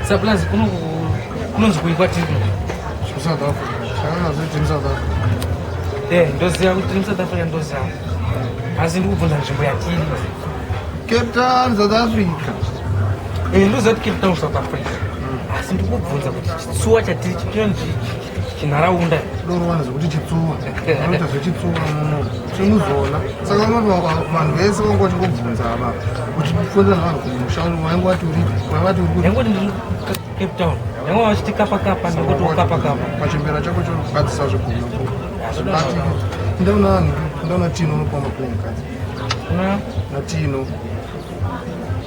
Saplazi kuno kunonzi kuikwa tiri South Africa. Kana zviti mu South Africa. Eh, ndoziva kuti mu South Africa ndoziva. Asi ndi kubvunza nzvimbo yatiri. Cape Town, South Africa. Eh, ndoziva kuti Cape Town, South Africa. Asi ndi kubvunza kuti chitsuwa chatiri chinonzi chinharaunda ndorowana zvekuti chitsuwa anoita zvechitsuwa muno timuzoona saka unotoa vanhu vese vanga vachingobvunza ava uchifonera vanhu kumusha wainge wati uri wavati uri yangoti ndiri cape town yanga vachiti kapa kapa nekuti ukapa kapa pachimbera chako chokugadzisa zvegumi ndaona vanhu ndaona tino unopa makuwa mukadzi natino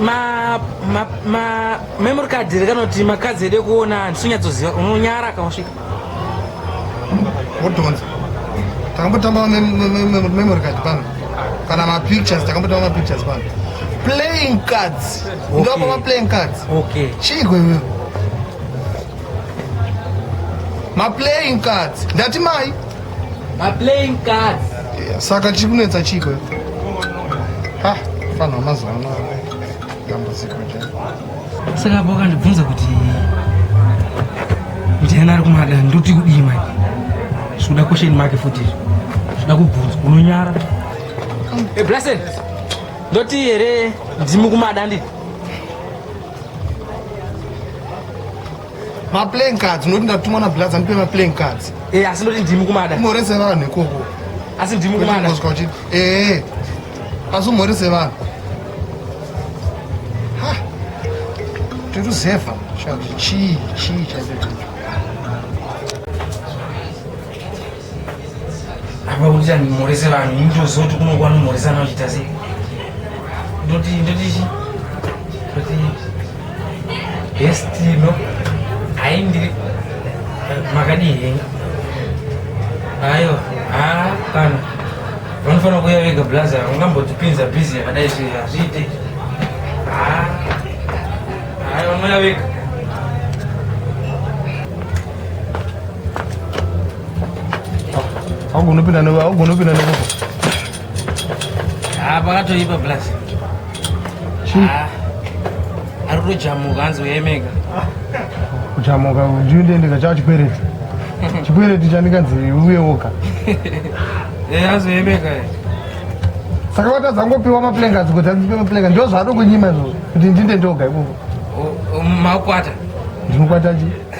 ma ma ma memory card rekanoti makadzi ede kuona handisonyatsoziva unonyara kausvika wodhonza takambotamba memory card pano kana mapictures takambotamba mapictures pano playing cards ndopa maplaying cards okay chigwe wewe maplaying cards ndati mai playing cards saka chiri kunetsa chiko ha fanhu wamazuva ano dambudziko chaiko saka apo kandibvunza kuti ndiana ari kumada ndoti kudii mai zvikuda question make futi izvo zvida kubvunza unonyara eh, blasen ndoti here ndimi kumada ndii ma playing cards unoti ndatumwa na blaz andipe ma playing cards eh asi ndoti ndimi kumada morese vanhu ikoko asi ndimi kumada kozwa kuti eh asi morese vanhu ha tiri zefa chii chii chaicho apa kuti andimhorese vanhu ini ndoziva kuti kunokuwa nomhoresana uchita sei ndoti ndoti chi ndoti hestino hai ndiri makadii henga ayo ha kana vanofanira kuya vega blaza ungambotipinza busy yakadai zve hazviite ha hai vanoya vega Haugoni kupinda newe, haugoni kupinda newe. Ah, pakatoipa plus. Chii? Ah. Ari kutojamuka hanzi uyemeka. Kujamuka ndiendeka chava chikwereti. Chikwereti chandikanzi uye woga. Eh, hanzi uyemeka. Eh. Saka watadza ngopiwa maplenga dzikoti adzipe maplenga ndizvo zvaado kunyima izvozvo kuti ndinde ndoga ikoko. Makwata. Ndinokwata chii?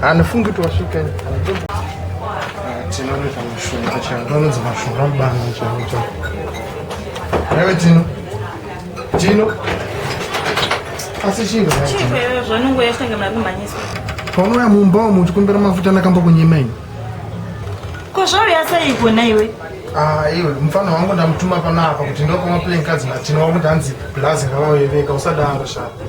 Hanifungi kuti wasvika tinonoita mushonga chaiwo vanonzi mashonga mubana chaiwo chaiwo aiwe tino tino asi chinga paunouya mumba umu uchikumbira mafuta ndakamba kunyima ini ko zvauya sei kona iwe ah, iwe mufana wangu ndamutuma panapa kuti ndokamaplenkazi matino wakuti hanzi blazi ravaveveka usadaro shaka